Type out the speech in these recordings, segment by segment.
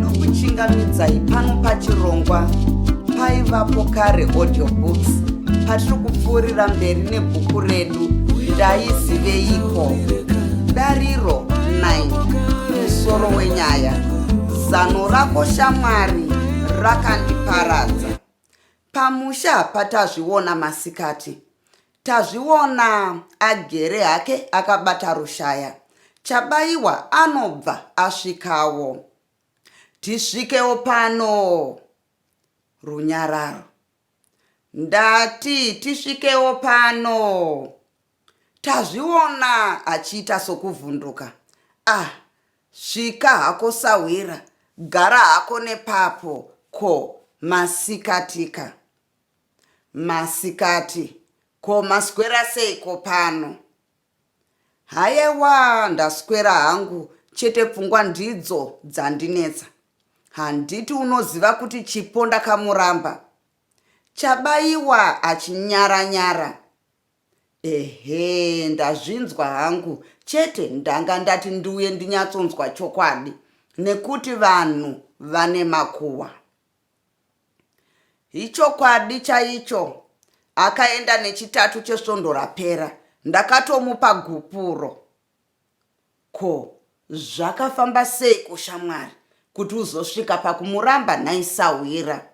nokuchingamidzai pano pachirongwa paivapo kare audio books patiri kupfuurira mberi nebhuku redu ndaiziveiko dariro 9 musoro wenyaya zano rako shamwari rakandiparadza pamusha patazviona masikati Tazviona agere hake akabata rushaya. Chabaiwa anobva asvikawo. Tisvikewo pano. Runyararo. Ndati tisvikewo pano. Tazviona achiita sokuvhunduka. Ah, svika hako sahwira, gara hako nepapo ko masikatika. Masikati, Ko maswera seiko pano? Hayewaa ndaswera hangu chete pfungwa ndidzo dzandinetsa. Handiti unoziva kuti Chipo ndakamuramba? Chabaiwa achinyara nyara. Ehe ndazvinzwa hangu chete ndanga ndati ndiuye ndinyatsonzwa chokwadi nekuti vanhu vane makuwa. Ichokwadi chaicho akaenda nechitatu chesvondo rapera ndakatomupa gupuro ko zvakafamba sei kushamwari kuti uzosvika pakumuramba nhai sahwira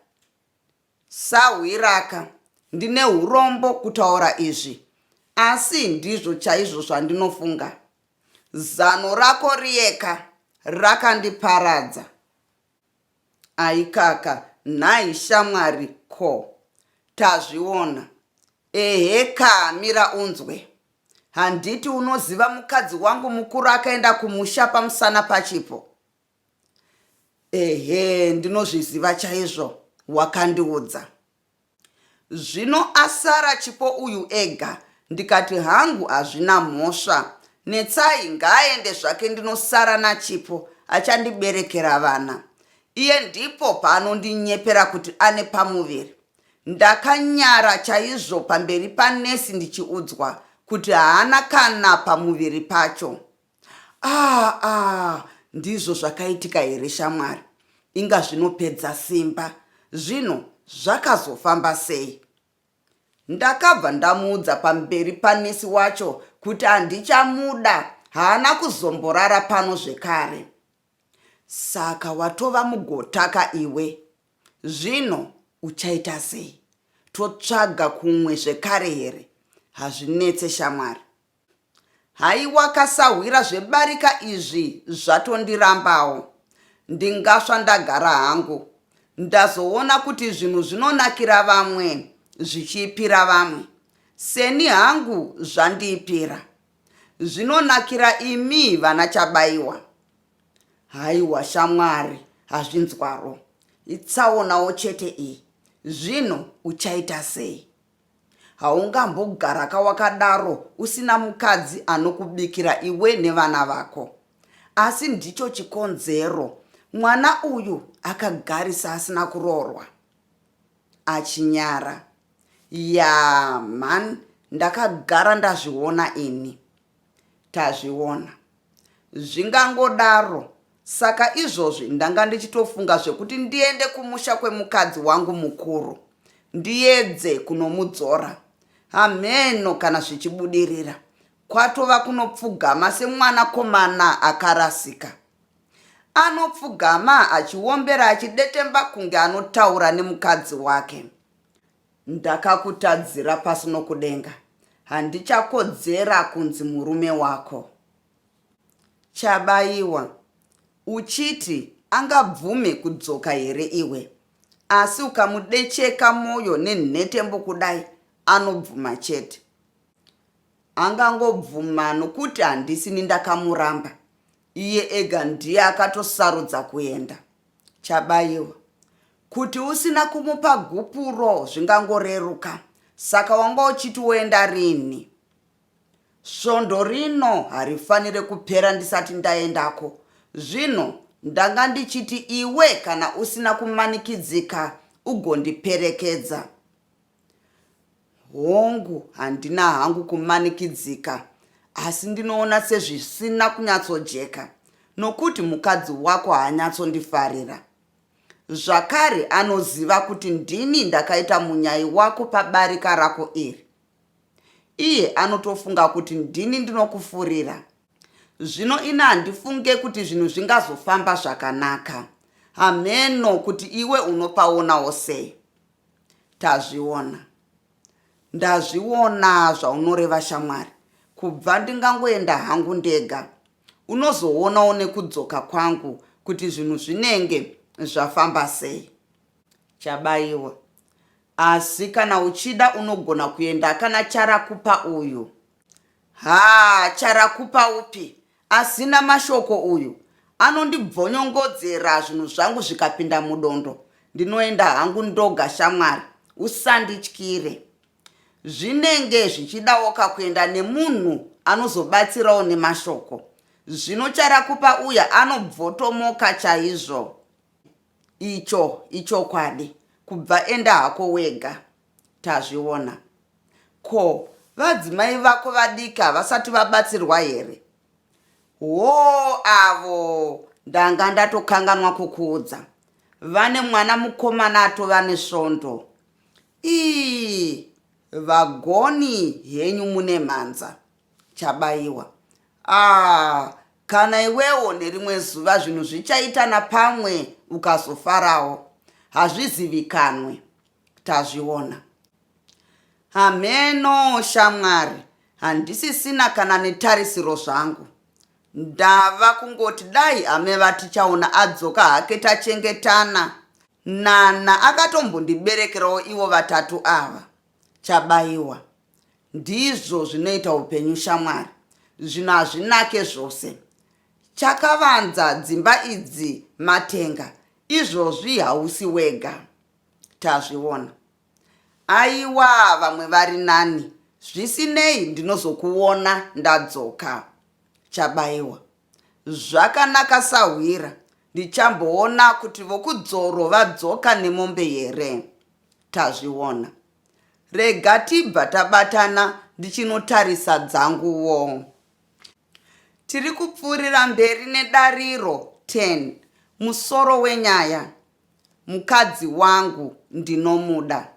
sahwiraka ndine urombo kutaura izvi asi ndizvo chaizvo zvandinofunga zano rako riyeka rakandiparadza Aikaka nhai shamwari ko tazviona ehe kaa mira unzwe handiti unoziva mukadzi wangu mukuru akaenda kumusha pamusana pachipo ehe ndinozviziva chaizvo wakandiudza Zvino asara Chipo uyu ega ndikati hangu hazvina mhosva Netsai ngaaende zvake ndinosara naChipo achandiberekera vana iye ndipo paanondinyepera kuti ane pamuviri. Ndakanyara chaizvo pamberi panesi ndichiudzwa kuti haana kana pamuviri pacho. Ah, ah, ndizvo zvakaitika here shamwari? Inga zvinopedza simba. Zvino zvakazofamba sei? Ndakabva ndamuudza pamberi panesi wacho kuti handichamuda, haana kuzomborara pano zvekare. Saka watova mugotaka iwe. Zvino uchaita sei? Totsvaga kumwe zvekare here? Hazvinetse shamwari. Haiwa kasahwira zvebarika izvi zvatondirambawo. Ndingasva ndagara hangu. Ndazoona kuti zvinhu zvinonakira vamwe zvichiipira vamwe. Seni hangu zvandiipira. Zvinonakira imi vana Chabaiwa. Haiwa shamwari hazvinzwaro. Itsaonawo chete iyi. Zvino uchaita sei? Haungambogaraka wakadaro usina mukadzi anokubikira iwe nevana vako. Asi ndicho chikonzero mwana uyu akagarisa asina kuroorwa. Achinyara. Yaa mhan ndakagara ndazviona ini. Tazviona. Zvingangodaro. Saka izvozvi ndanga ndichitofunga zvekuti ndiende kumusha kwemukadzi wangu mukuru ndiyedze kunomudzora. Hamheno kana zvichibudirira. Kwatova kunopfugama semwanakomana akarasika. Anopfugama achiombera achidetemba kunge anotaura nemukadzi wake. Ndakakutadzira pasi nokudenga. Handichakodzera kunzi murume wako. Chabaiwa. Uchiti angabvume kudzoka here iwe? Asi ukamudecheka moyo nenhetembo kudai anobvuma chete. Angangobvuma nokuti handisini ndakamuramba. Iye ega ndiye akatosarudza kuenda. Chabaiwa. Kuti usina kumupa gupuro zvingangoreruka. Saka wanga uchiti woenda rinhi? Svondo rino harifanire kupera ndisati ndaendako. Zvino ndanga ndichiti iwe kana usina kumanikidzika ugondiperekedza. Hongu, handina hangu kumanikidzika, asi ndinoona sezvisina kunyatsojeka nokuti mukadzi wako haanyatsondifarira. Zvakare, anoziva kuti ndini ndakaita munyai wako pabarika rako iri. Iye anotofunga kuti ndini ndinokufurira. Zvino ini handifunge kuti zvinhu zvingazofamba zvakanaka. Hameno kuti iwe unopaonawo sei. Tazviona. Ndazviona zvaunoreva shamwari. Kubva ndingangoenda hangu ndega. Unozoonawo nekudzoka kwangu kuti zvinhu zvinenge zvafamba sei. Chabaiwa. Asi kana uchida unogona kuenda kana Charakupa uyu. Haa charakupa upi asina mashoko uyu anondibvonyongodzera zvinhu zvangu zvikapinda mudondo ndinoenda hangu ndoga shamwari usandityire zvinenge zvichidawo kakuenda nemunhu anozobatsirawo nemashoko zvino charakupa uya anobvotomoka chaizvo icho ichokwadi kubva enda hako wega Tazviona. Ko vadzimai vako vadiki havasati vabatsirwa here? Hoo avo ndanga ndatokanganwa kukuudza. Vane mwana mukomana atova nesvondo. Ii vagoni henyu mune mhanza. Chabaiwa. Ah, kana iwewo nerimwe zuva zvinhu zvichaita napamwe ukazofarawo. Hazvizivikanwe. tazviona hameno shamwari handisisina kana netarisiro zvangu ndava kungoti dai ame vatichaona adzoka hake tachengetana nana akatombondiberekerawo ivo vatatu ava chabayiwa ndizvo zvinoita upenyu shamwari zvino hazvinake zvose chakavanza dzimba idzi matenga izvozvi hausi wega Tazviona. Aiwa vamwe vari nani. Zvisinei ndinozokuona ndadzoka. Chabaiwa. Zvakanaka sahwira. Ndichamboona kuti vokudzoro vadzoka nemombe here. Tazviona. Rega tibva tabatana ndichinotarisa dzanguwo. Tiri kupfuurira mberi nedariro 10. Musoro wenyaya. mukadzi wangu ndinomuda.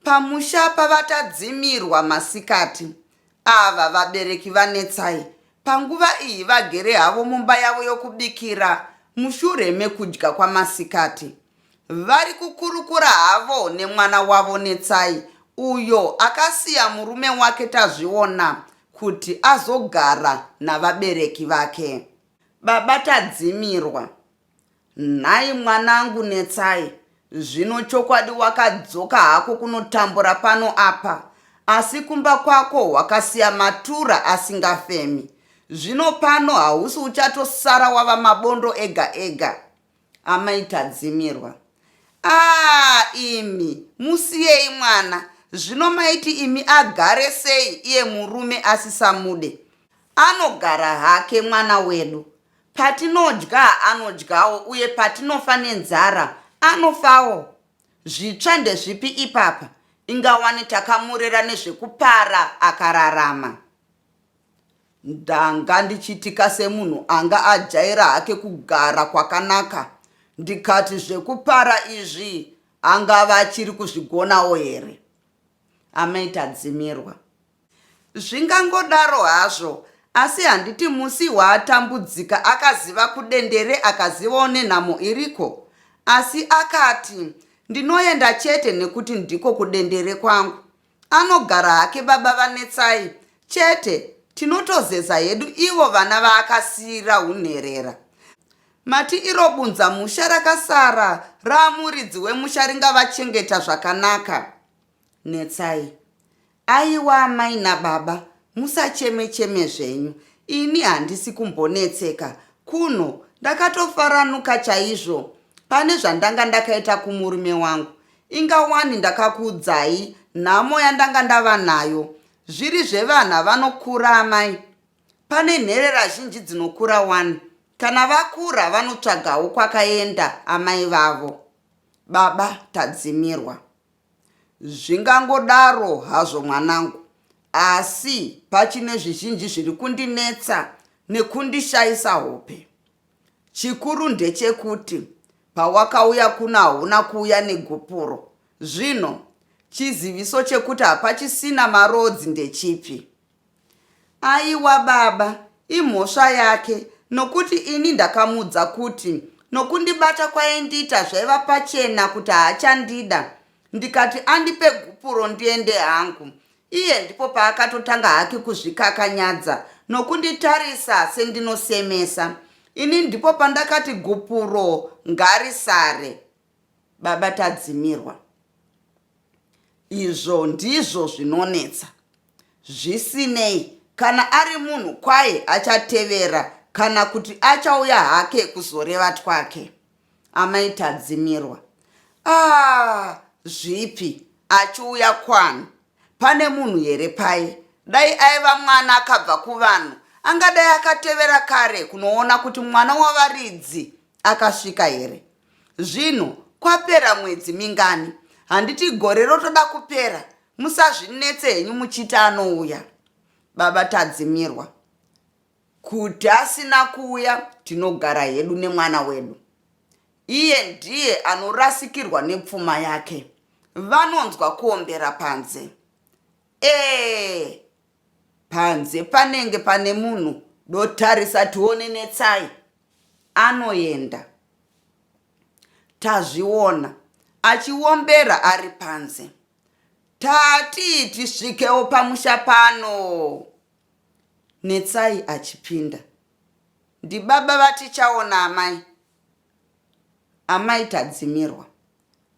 Pamusha pavaTadzimirwa masikati ava vabereki vaNetsai panguva iyi vagere havo mumba yavo yokubikira mushure mekudya kwamasikati. Vari kukurukura havo nemwana wavo Netsai uyo akasiya murume wake Tazviona kuti azogara navabereki vake. Baba Tadzimirwa, Nhai mwanangu Netsai, zvino chokwadi wakadzoka hako kunotambura pano apa, asi kumba kwako wakasiya matura asingafemi. Zvino pano hausi uchatosara wava mabondo ega ega. Amai Tadzimirwa. Aa imi, musiyei mwana, zvino maiti imi agare sei iye murume asisamude? Anogara hake mwana wedu, Patinodya anodyawo uye patinofa nenzara anofawo. Zvitsva ndezvipi ipapa? Inga wani takamurera nezvekupara akararama. Ndanga ndichiitika semunhu anga ajaira hake kugara kwakanaka ndikati zvekupara izvi angava achiri kuzvigonawo here? Amai Tadzimirwa. Zvingangodaro hazvo, asi handiti musi waatambudzika akaziva kudendere akazivawo nenhamo iriko? Asi akati, Ndinoenda chete nekuti ndiko kudendere kwangu. Anogara hake baba vaNetsai, chete tinotozeza hedu ivo vana vaakasiira hunherera. Mati iro bunza musha rakasara raamuridzi wemusha ringavachengeta zvakanaka? Netsai. Aiwa amai nababa musacheme cheme zvenyu ini handisi kumbonetseka kuno ndakatofaranuka chaizvo pane zvandanga ndakaita kumurume wangu inga wani ndakakuudzai nhamo yandanga ndava nayo zviri zvevana vanokura amai pane nherera zhinji dzinokura wani kana vakura vanotsvagawo kwakaenda amai vavo baba tadzimirwa Zvingangodaro hazvo mwanangu, asi pachine zvizhinji zviri kundinetsa nekundishaisa hope. Chikuru ndechekuti pawakauya kuno hauna kuuya negupuro. Zvino, chiziviso chekuti hapachisina maroads ndechipi? Aiwa baba imhosva yake nokuti ini ndakamudza kuti nokundibata kwaindiita zvaiva pachena kuti haachandida ndikati andipe gupuro ndiende hangu iye ndipo paakatotanga hake kuzvikakanyadza nokunditarisa sendinosemesa ini ndipo pandakati gupuro ngarisare Baba Tadzimirwa, izvo ndizvo zvinonetsa. Zvisinei, kana ari munhu kwaye achatevera kana kuti achauya hake kuzoreva twake. Amai Tadzimirwa, ah, zvipi? Achiuya kwani? Pane munhu here paye? Dai aiva mwana akabva kuvanhu, angadai akatevera kare kunoona kuti mwana wavaridzi akasvika here. Zvinhu kwapera mwedzi mingani? Handiti gore rotoda kupera? Musazvinetse henyu muchiti anouya. Baba Tadzimirwa. Kuti asina kuuya tinogara hedu nemwana wedu. Iye ndiye anorasikirwa nepfuma yake. Vanonzwa kuombera panze. Ee, Panze panenge pane munhu dotarisa tione netsai anoenda tazviona achiombera ari panze tatii tisvikewo pamusha pano netsai achipinda ndibaba vatichaona amai Amai Tadzimirwa.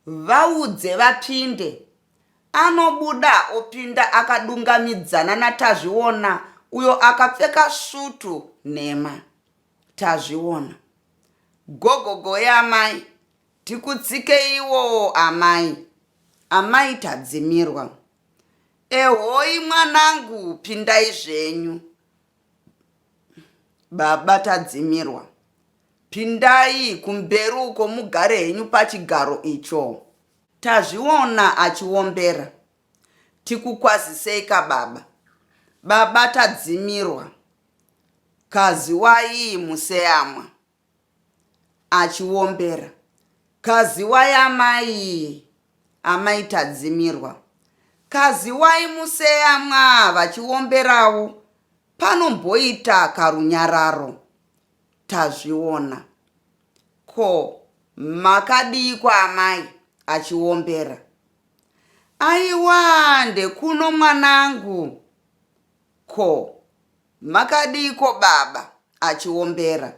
Vaudze vapinde. Anobuda opinda akadungamidzana naTazviona uyo akapfeka sutu nhema. Tazviona. Gogo goe amai. Tikutsikeiwoo amai. Amai Tadzimirwa. Ehoi mwanangu pindai zvenyu. Baba Tadzimirwa. Pindai kumberi uko mugare henyu pachigaro icho. Tazviona achiombera. Tikukwazisei ka baba. Baba Tadzimirwa. Kaziwai museyamwa. Achiombera. Kaziwai amai. Amai Tadzimirwa. Kaziwai museyamwa vachiomberawo. Panomboita karunyararo. Tazviona. Ko makadiiko amai? achiombera. Aiwa ndekuno mwanangu. Ko makadiiko baba? achiombera.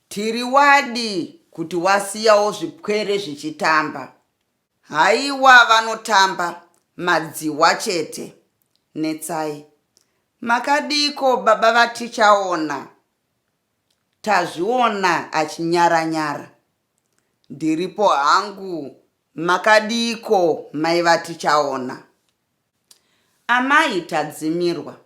Tiri wadi kuti wasiyawo zvipwere zvichitamba. Haiwa vanotamba madzihwa chete. Netsai. Makadiiko baba vaTichaona? Tazviona achinyara nyara. Ndiripo hangu makadiiko mai vaTichaona? Amai Tadzimirwa.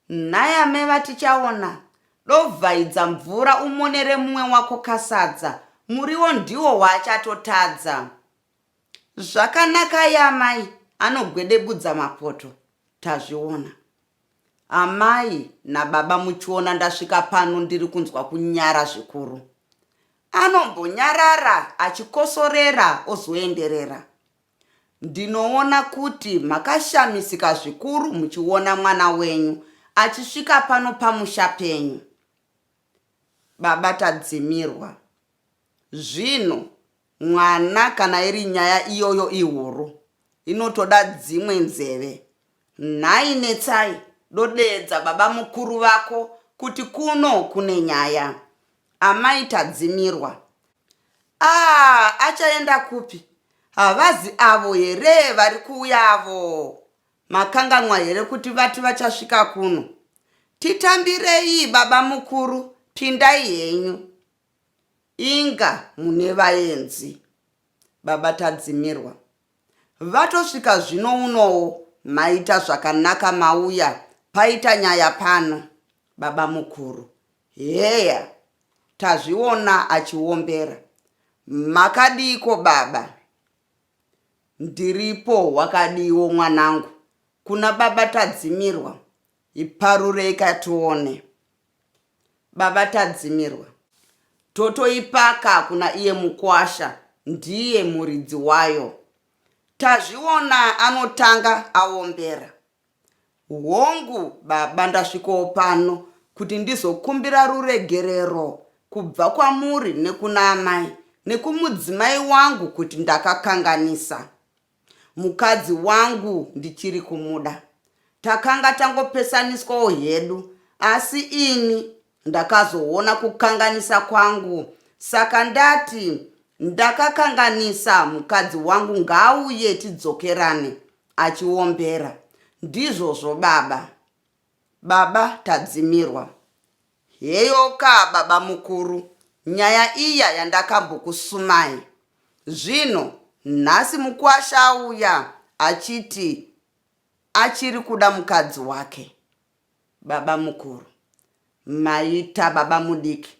Nhai amai vaTichaona, dovhaidza mvura umonere mumwe wako kasadza, muriwo ndiwo waachatotadza. Zvakanakai amai, anogwedebudza mapoto. Tazviona. Amai nababa muchiona ndasvika pano ndiri kunzwa kunyara zvikuru. Anombonyarara achikosorera ozoenderera. Ndinoona kuti makashamisika zvikuru muchiona mwana wenyu achisvika pano pamusha penyu, baba Tadzimirwa. Zvino mwana kana iri nyaya iyoyo ihuru, inotoda dzimwe nzeve. Nhai Netsai, dodeedza baba mukuru vako kuti kuno kune nyaya. Amai Tadzimirwa. Aah achaenda kupi havazi avo here vari kuuya avo makanganwa here kuti vati vachasvika kuno titambirei baba mukuru pindai henyu inga mune vaenzi baba tadzimirwa vatosvika zvino unowo maita zvakanaka mauya paita nyaya pano Babamukuru, Heya tazviona achiombera. Makadiiko baba? Ndiripo wakadiiwo mwanangu? Kuna baba Tadzimirwa iparureika tione. Baba Tadzimirwa, Totoipaka kuna iye mukwasha ndiye muridzi wayo. Tazviona anotanga aombera. Hongu baba ndasvikawo pano kuti ndizokumbira ruregerero kubva kwamuri nekuna amai nekumudzimai wangu kuti ndakakanganisa mukadzi wangu ndichiri kumuda takanga tangopesaniswawo hedu asi ini ndakazoona kukanganisa kwangu saka ndati ndakakanganisa mukadzi wangu ngaauye tidzokerane achiombera ndizvozvo baba baba tadzimirwa heyoka baba mukuru nyaya iya yandakambokusumai zvino nhasi mukwasha auya achiti achiri kuda mukadzi wake baba mukuru maita baba mudiki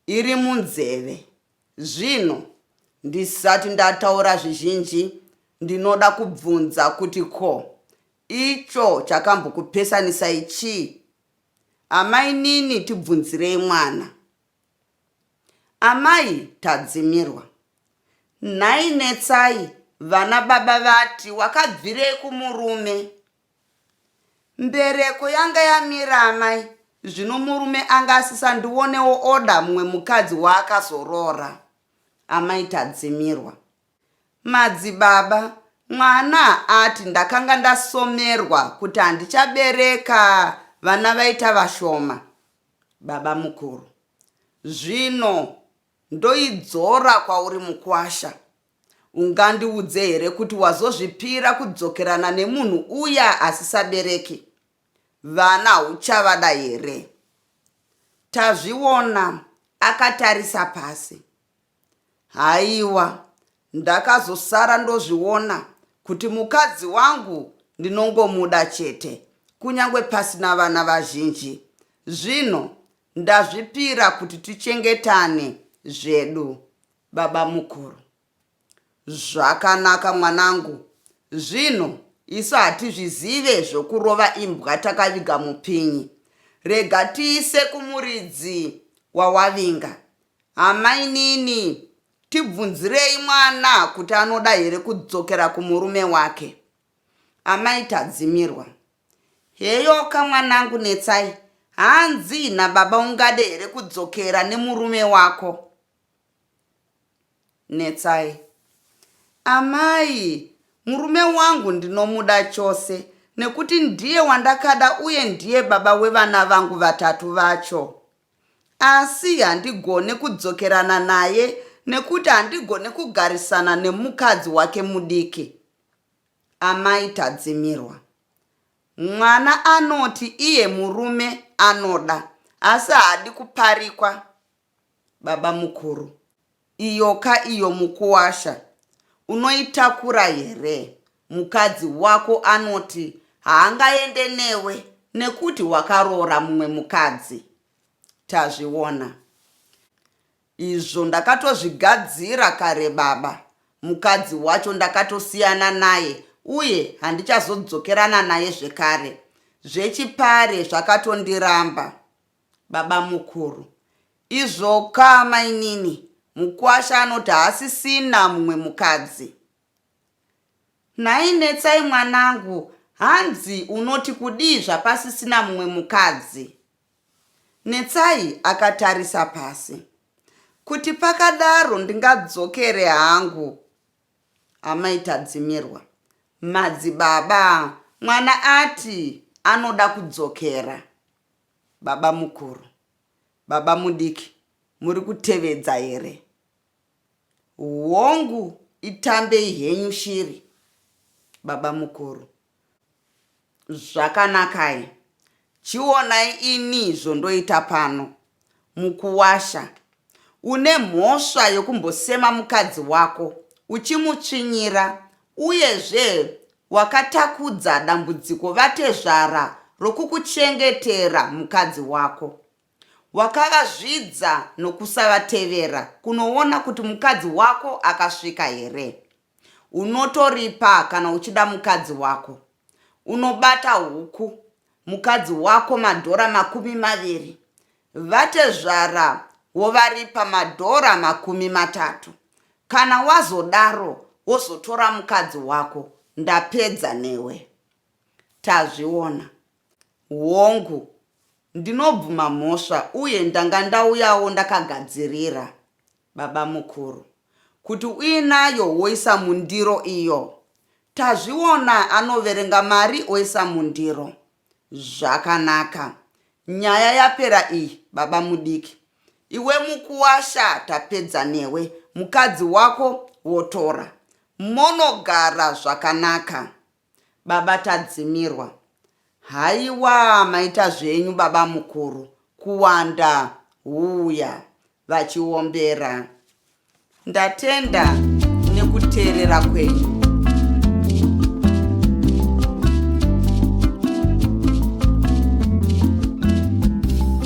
iri munzeve. Zvino, ndisati ndataura zvizhinji, ndinoda kubvunza kuti ko, icho chakambokupesanisai chii? Amainini tibvunzirei mwana. Amai Tadzimirwa. Nhai Netsai, vana baba vati wakabvirei kumurume? Mbereko yanga yamira amai zvino murume anga asisandionewo oda mumwe mukadzi waakazoroora. Amai Tadzimirwa. Madzibaba, mwana haati ndakanga ndasomerwa kuti handichabereka vana vaita vashoma. Babamukuru. Zvino ndoidzora kwauri mukwasha. Ungandiudze here kuti wazozvipira kudzokerana nemunhu uya asisabereki? Vana uchavada here? Tazviona akatarisa pasi. Haiwa, ndakazosara ndozviona kuti mukadzi wangu ndinongomuda chete, kunyange pasina vana vazhinji. Zvino ndazvipira kuti tichengetane zvedu. Babamukuru. Zvakanaka mwanangu, zvinhu isu hatizvizive zvokurova imbwa takaviga mupinyi. Rega tiise kumuridzi wawavinga. Amainini, tibvunzirei mwana kuti anoda here kudzokera kumurume wake. Amai Tadzimirwa. Heyoka mwanangu Netsai, hanzi nababa ungade here kudzokera nemurume wako? Netsai. Amai, murume wangu ndinomuda chose nekuti ndiye wandakada uye ndiye baba wevana vangu vatatu vacho. Asi handigone kudzokerana naye nekuti handigone kugarisana nemukadzi wake mudiki. Amai Tadzimirwa. Mwana anoti iye murume anoda asi haadi kuparikwa. Babamukuru, iyoka iyo mukuwasha unoitakura here? Mukadzi wako anoti haangaende newe nekuti wakaroora mumwe mukadzi. Tazviona. Izvo ndakatozvigadzira kare baba. Mukadzi wacho ndakatosiyana naye uye handichazodzokerana naye zvekare. Zvechipare zvakatondiramba. Babamukuru. Izvoka mainini mukwasha anoti haasisina mumwe mukadzi. Nhai Netsai mwanangu hanzi unoti kudii zvapasisina mumwe mukadzi? Netsai akatarisa pasi. Kuti pakadaro ndingadzokere hangu. Amai Tadzimirwa. Madzibaba mwana ati anoda kudzokera. Babamukuru, babamudiki muri kutevedza here? Hongu itambei henyu shiri, babamukuru. Zvakanakai, chionai ini zvondoita pano, Mukuwasha. Une mhosva yokumbosema mukadzi wako uchimutsvinyira uyezve wakatakudza dambudziko vatezvara rokukuchengetera mukadzi wako. Wakavazvidza nokusavatevera kunoona kuti mukadzi wako akasvika here. Unotoripa kana uchida mukadzi wako. Unobata huku mukadzi wako madhora makumi maviri. Vatezvara wovaripa madhora makumi matatu. Kana wazodaro wozotora mukadzi wako ndapedza newe. Tazviona. Hongu, ndinobvuma mhosva uye ndanga ndauyawo ndakagadzirira. Babamukuru. Kuti uinayo woisa mundiro iyo. Tazviona anoverenga mari oisa mundiro. Zvakanaka. Nyaya yapera iyi babamudiki. Iwe mukuwasha tapedza newe. Mukadzi wako wotora. Monogara zvakanaka. Baba Tadzimirwa. Haiwaa maita zvenyu babamukuru kuwanda huuya vachiombera. Ndatenda nekuteerera kwenyu.